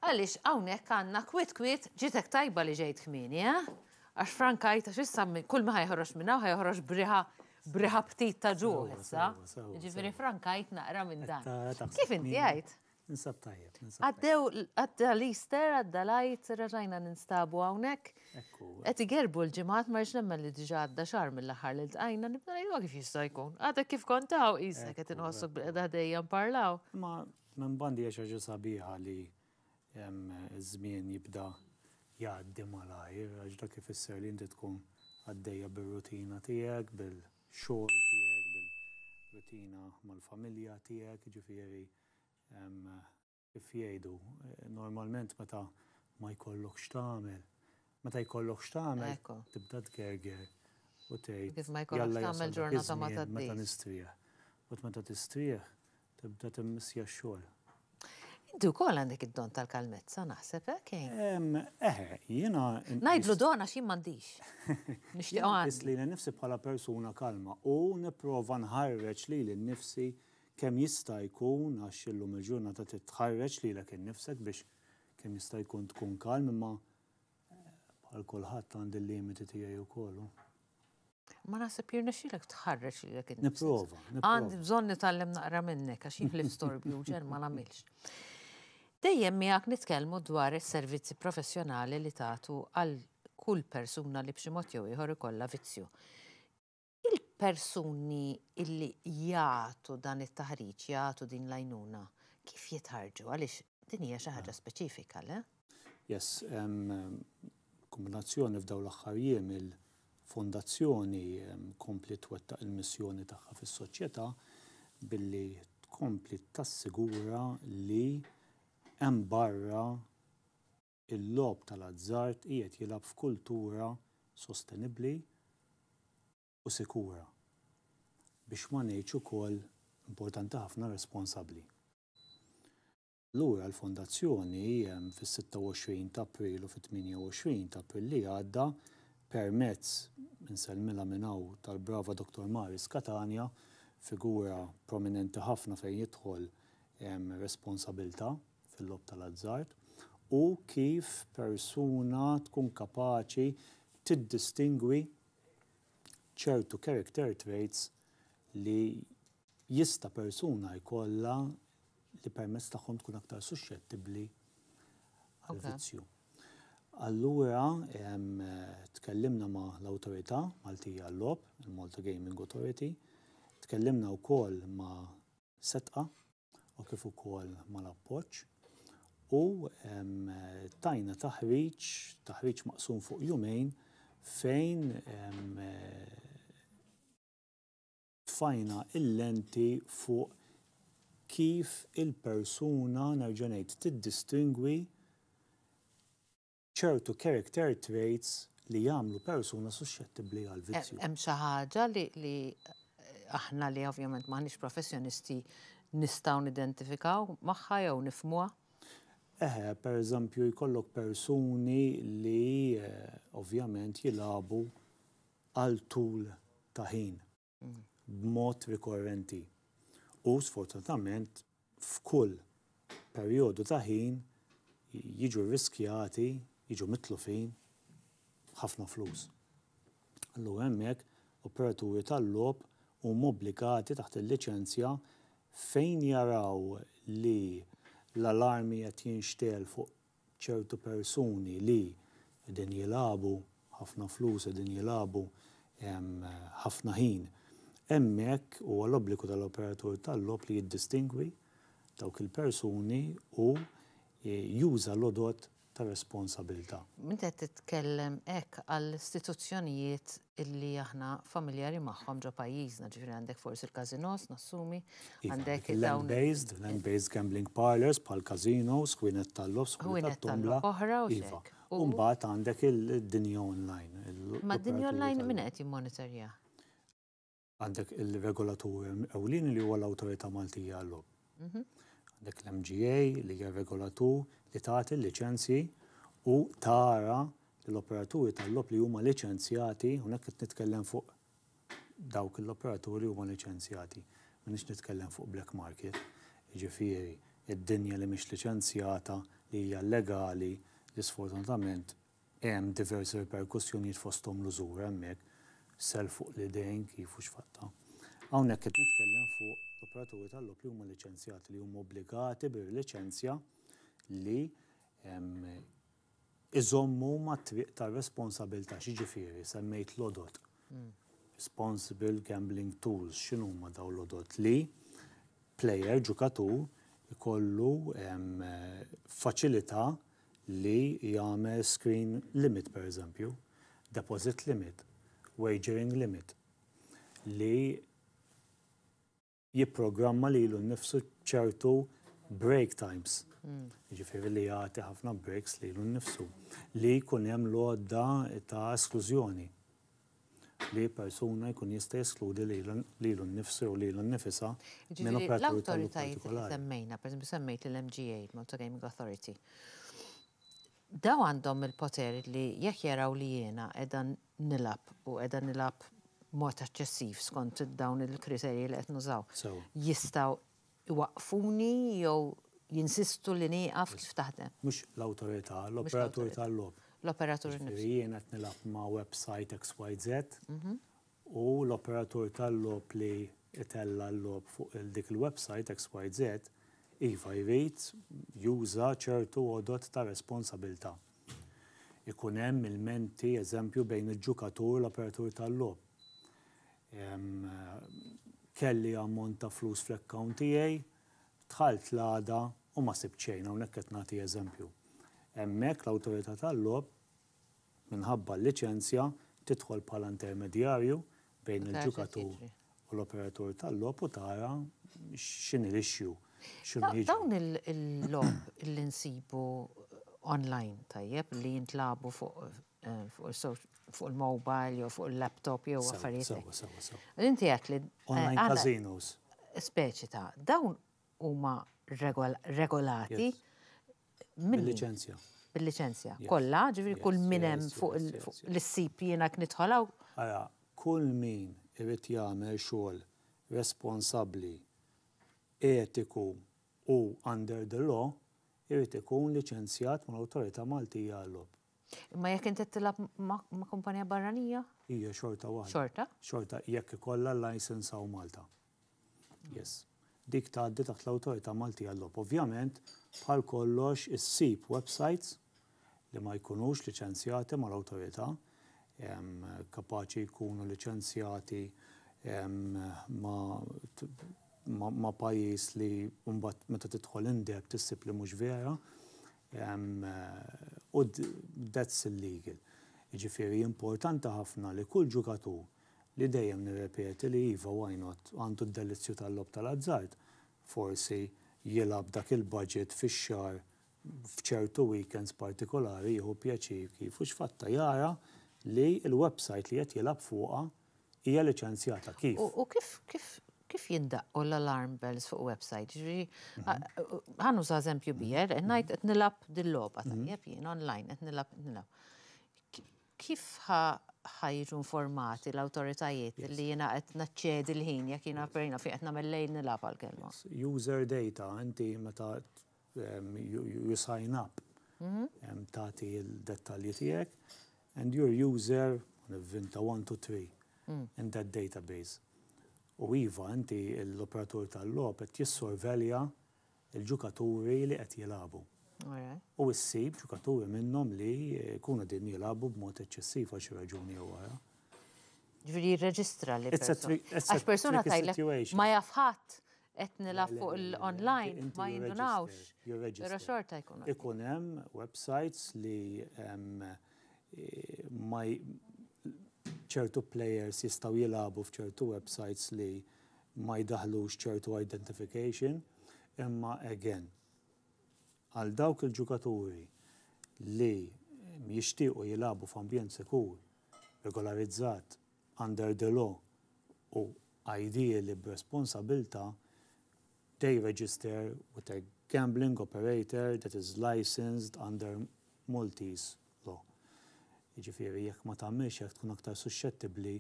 Għaliex hawnhekk għandna kwiet kwiet ġitek tajba li ġejt kmieni, eh? Għax frankajt għax issa kull ma ħajħroġ minn hawn ħajħroġ b'riħa b'riħa ptit ta' ġuħ issa. Ġifieri frankajt naqra minn dan. Kif inti għajt? Ninsab tajjeb. Għaddew, għadda l-Easter, għadda l-għajt, raġajna ninstabu għawnek. Għet igerbu l-ġimat, marġ nemmen li diġa għadda xar mill-axar li l-tqajna, nibna jgħu kif jista' jkun. Għadda kif kontaw, jisa għet inħossok bil-għedha dejjem parlaw. Ma Minn banda hija xi ħaġa sabiħa li ż-żmien jibda jgħaddi malajr għax dak ifisser li inti tkun għaddejja bir-rutina tiegħek, bil-xogħol tiegħek, bil-rutina mal-familja tiegħek, jiġifieri kif jgħidu, normalment meta ma jkollok x'tagħmel, meta jkollok x'tagħmel tibda tgerger u tgħid, jalla jasal dak iż-żmien meta nistrieħ. But meta tistrieħ Tibda timmissja x-xogħol. Inti wkoll għandek id-don tal-kalmezza naħseb hekk. Eh, jiena. Ngħidlu don għax jien m'għandix. Nixtieq għandi. Li nifsi bħala persuna kalma u nipprova nħarreġ li l-nifsi kemm jista' jkun għax illum il-ġurnata titħarreġ li l innifsek biex kemm jista' jkun tkun kalm imma Bħal kulħadd għandi l-limiti tiegħi wkoll. Ma naħseb jirnexxilek tħarreġ li jekk Nipprova. Għandi bżonn nitgħallem naqra minnek għax jien ħlif storbju ġer ma nagħmilx. Dejjem miegħek nitkellmu dwar is-servizzi professjonali li tagħtu għal kull persuna li b'xi mod jew ieħor ikollha vizzju. Il-persuni li jagħtu dan it-taħriġ, jagħtu din l-għajnuna, kif jitħarrġu? Għaliex din hija xi ħaġa speċifika, le? Yes, kombinazzjoni f'dawn l-aħħar jiem il-Fondazzjoni kompli twettaq il-missjoni tagħha fis-soċjetà billi tkompli tassigura li hemm barra Il-logħob tal-azzard qiegħed jilgħab f'kultura sostenibbli u sikura, biex ma ngħidx ukoll, importanti ħafna, responsabbli. Allura l-Fondazzjoni, fis-26 ta' April u fit-28 ta' April li għadda, permezz, insellmilha minn hawn, tal-brava Dottor Maris Catania, figura prominenti ħafna fejn jidħol responsabilità, fil-logħob tal-azzard u kif persuna tkun kapaċi tiddistingwi ċertu character traits li jista' persuna jkollha li permezz tagħhom tkun aktar suxxettibbli għall-vizzju. Allura tkellimna ma' l-awtorità Maltija għal-logħob, il-Malta Gaming Authority, tkellimna wkoll ma' setqa u kif ukoll mal-appoġġ u tajna taħriġ, taħriġ maqsum fuq jumejn fejn tfajna il-lenti fuq kif il-persuna, nerġa' ngħid, tiddistingwi ċertu character traits li jagħmlu persuna suxxettibbli għall-vizzju. Hemm xi ħaġa li aħna li ovvjament m'aħniex professjonisti nistgħu nidentifikaw magħha jew nifhmuha? Eħe, pereżempju jkollok persuni li eh, ovvjament jilagħbu għal tul ta' ħin. b'mod rikorrenti u, sfortunatament, f'kull perjodu ta' ħin jiġu rriskjati, jiġu mitlufin ħafna flus. Allura hemmhekk operaturi tal-logħob huma obbligati taħt il-liċenzja fejn jaraw li l-alarmi qed jinxtegħel fuq ċertu persuni li qegħdin jilagħbu ħafna flus, qegħdin jilagħbu ħafna ħin hemmhekk, huwa l-obbligu tal-operatur tal-logħob li jiddistingwi dawk il-persuni u juża l-għodod ta' responsabilità. Meta qed titkellem hekk għall-istituzzjonijiet illi aħna familjari magħhom ġo pajjiżna, ġifieri għandek forsi l-każinòs, nassumi, għandek dawn. Land based, land based gambling parlours bħal każinòs, ħwienet tal-logħob, ħwienet tal-tombola. Oħra u hekk. U mbagħad għandek id-dinja online. Ma d-dinja online min qed jimmonitorja? għandek il-regolatur ewlieni li huwa l-Awtorità Maltija għall-Logħob. Mhm. Għandek l-MGA li hija regolatur li tagħti l-liċenzji u tara l-operaturi tal-logħob li huma liċenzjati, hawnhekk qed nitkellem fuq dawk l-operaturi huma liċenzjati. Minix nitkellem fuq black market, ġifieri id-dinja li mhix liċenzjata li hija legali li sfortunatament Hemm diversi riperkussjonijiet fosthom l-użura hemmhekk, self fuq l-idejn, kif u x'fatta. Hawnhekk qed nitkellem fuq l-operaturi tal-logħob li huma liċenzjati li huma obbligati bir-liċenzja li jżommu mat-triq tar-responsabilità. X'jiġifieri? Semmejt l-għodod. Responsible gambling tools. X'inhuma dawn l-għodod? Li plejer, ġukatur, ikollu faċilità li jagħmel screen limit pereżempju, deposit limit, wagering limit, li jipprogramma lilu nnifsu ċertu break times, jiġifieri li jagħti ħafna breaks lilu nnifsu, li jkun hemm l-għodda ta' esklużjoni. li persuna jkun jista' jeskludi lilu nnifsu jew lilu nnifisha minn operatur tal-lotterija partikolari. Jiġifieri, l-awtoritajiet li semmejna, pereżempju semmejt lill-MGA, il-Malta Gaming Authority, dawn għandhom il-poter li jekk jaraw li jiena qiegħda nilgħab u qiegħda nilgħab b'mod eċċessiv skont dawn il-kriterji li qed nużaw, jistgħu iwaqqfuni jew jinsistu li nieqaf kif taħdem. Mhux l-awtorità, l-operatur tal-logħob. L-operatur innifsu. Jiġifieri jien qed nilgħab ma' website XYZ u l-operatur tal-logħob li jtella' l-logħob fuq dik il-website XYZ iva jrid juża ċertu għodod ta' responsabilità. Ikun hemm ilmenti, eżempju, bejn il-ġukatur u l-operatur tal-logħob. Kelli ammont ta' flus fl-account tiegħi, dħalt l-għada u ma sibt xejn, hawnhekk qed nagħti eżempju. Hemmhekk l-awtorità tal-logħob, minħabba l-liċenzja, tidħol bħala intermedjarju bejn il-ġukatur u l-operatur tal-logħob u tara x'inhi l-issue. Dawn il-logħob li nsibu online, tajjeb, li jintlagħbu fuq fuq il-mobile jew fuq il-laptop jew affarijiet. Sewa, sewa, sewa. Inti għat li. Online eh, casinos. Speċi ta' dawn huma regolati. Bil-licenzja. Bil-licenzja. Kolla, ġivri kull minem fuq l-sip jena knitħolaw. Għara, kull min irrit jagħmel xogħol responsabli, etiku u under the law, irrit ikun licenzjat mal-Awtorità Maltija għall-lob. Imma jekk inti tilab ma' kumpanija barranija? Hija xorta waħda. Xorta? Xorta jekk ikollha license hawn Malta. Yes. Dik tgħaddi taħt l-Awtorità Maltija għal-Logħob. Ovvjament, bħal kollox issib websites li ma jkunux liċenzjati mal-Awtorità, kapaċi jkunu liċenzjati ma' pajjiż li mbagħad meta tidħol in-depth issib li mhux vera. U that's illegal. Jiġifieri importanti ħafna li kull ġukatur, li dejjem nirrepeti li iva why not, għandu d-delizzju tal-logħob tal-azzard, forsi jilgħab dak il-budget fix-xahar f'ċertu weekends partikolari jieħu pjaċir kif u x'fatta jara li l-website li qed jilgħab fuqha Hija liċenzjata kif? U kif kif kif jindaqqu l-alarm bells fuq website? Ġifieri mhm. ħanu sa eżempju bijer, mhm. ngħid qed nilgħab dil-logħba mhm. tajjeb jien online qed nilgħab qed nilgħab. Kif ħajġu informati l-autoritajiet li jina qed naċċedi l-ħin jekk jina perina fi qed nagħmel lejn nilgħab għal-kelma. User data, inti meta you sign up, tagħti l-dettalji tiegħek, and your user, nivvinta, one, two, three in that database. U iva, inti l-operatur tal-logħob qed jissorvelja l-ġukaturi li qed jilagħbu. U ssib ġukaturi minnhom li jkunu din jilagħbu b'mod eċċessiv għal xi raġuni jew oħra. Ġifieri jirreġistra li. Għax persuna tajlek ma jaf ħadd qed nilgħab fuq l-online ma jindunawx, però xorta jkun hemm. Ikun hemm websites li ċertu players jistgħu jilagħbu f'ċertu websites li ma jdaħħlux ċertu identification, imma again, għal dawk il-ġukaturi li jixtiequ jilagħbu f'ambjent sikur, regolarizzat, under the law u ideally b'responsabilità, they register with a gambling operator that is licensed under Maltese law. Jiġifieri jekk ma tagħmilx hekk tkun aktar suxxettibbli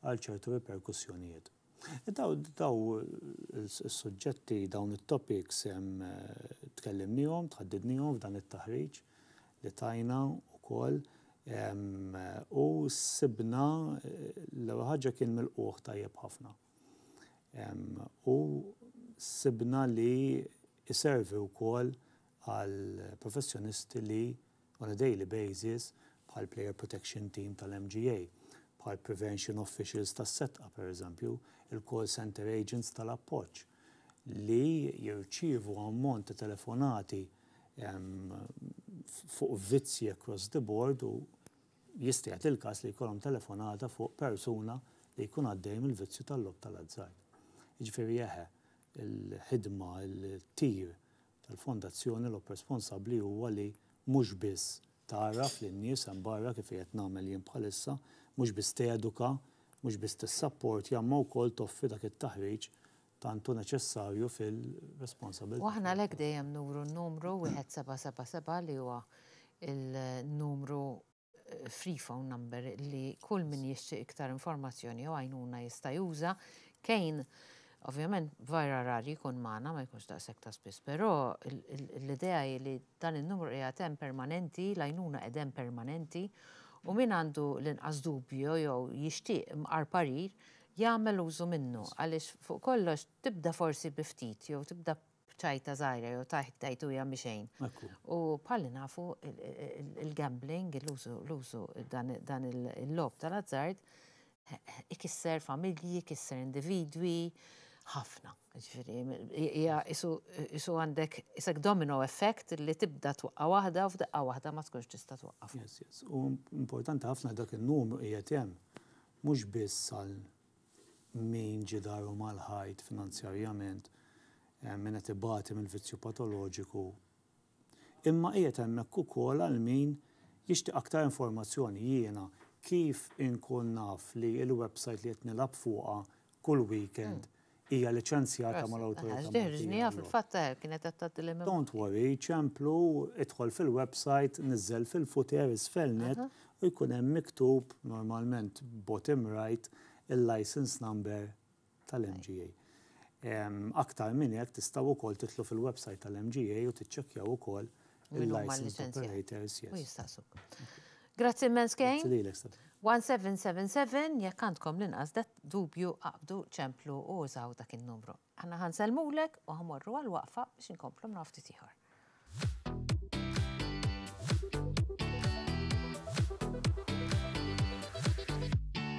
għal ċertu riperkussjonijiet. Daw is-suġġetti, dawn it-topics tkellimniehom, tħaddidniehom f'dan it-taħriġ li tajna wkoll u sibna l-ewwel ħaġa kien milqugħ tajjeb ħafna. U sibna li jservi wkoll għal professjonisti li on a daily basis bħal player protection team tal-MGA, bħal prevention officials tas-setqa pereżempju, il-call centre agents tal-appoġġ li jirċievu ammont ta' telefonati fuq vizzji across the board u jista' jagħti il-każ li jkollhom telefonata fuq persuna li jkun għaddej mill-vizzju tal-logħob tal-azzard. Jiġifieri eħe, il-ħidma, it-tir tal-fondazzjoni logħob responsabbli huwa li mhux biss tgħarraf lin-nies hemm barra kif qiegħed nagħmel jien bħalissa, mhux biss teduka, mhux biss tissapportja imma wkoll toffri dak it-taħriġ tant hu neċessarju fil-responsabilità. U aħna għalhekk dejjem nuru n-numru 1777 li huwa l-numru free phone number li kull min jixtieq iktar informazzjoni jew għajnuna jista' juża. Kane ovvjament vera rar jkun magħna ma jkunx daqshekk ta' spiss, però l-idea hi li dan in-numru qiegħed hemm permanenti, l-għajnuna qed hemm permanenti u min għandu l-inqas dubju jew jixtieq imqar parir jagħmel użu minnu għaliex fuq kollox tibda forsi bi ftit jew tibda b'ċajta żgħira jew tajt tajtuja mhi xejn. U bħalli nafu il-gambling, l-użu l-użu dan il-logħob tal-azzard ikisser familji, ikisser individwi, ħafna. Ġifieri hija isu għandek isek domino effect li tibda twaqqa' waħda u f'daqqa waħda ma tkunx tista' twaqqaf. Yes, yes. U importanti ħafna dak in-numru qiegħed hemm. mhux biss għal min ġidaru mal-ħajt finanzjarjament, min qed ibati mill-vizzju patoloġiku, imma qiegħed hemmhekk ukoll għal min jixtieq aktar informazzjoni, jiena kif inkun naf li l-websajt li qed nilgħab fuqha kull weekend hija liċenzjata mal-Awtorità Maltija għall-Ikel. Ġniha fil-fatt hekk kienet qed tgħaddi l-MMI. Don't worry, ċemplu, idħol fil-website, niżżel fil-futer isfel nett u jkun hemm miktub, normalment bottom right, il-license number tal-MGA. Aktar minn hekk tistgħu wkoll tidħlu fil-website tal-MGA u tiċċekkjaw ukoll Min huma l-liċenzjati? U jistaqsuk. Grazzi immens Kane. 1777 jekk għandkom l-inqas dubju qabdu ċemplu u użaw dak in-numru. Aħna ħanselmulek u ħamorru għal waqfa biex inkomplu nafti tiħor.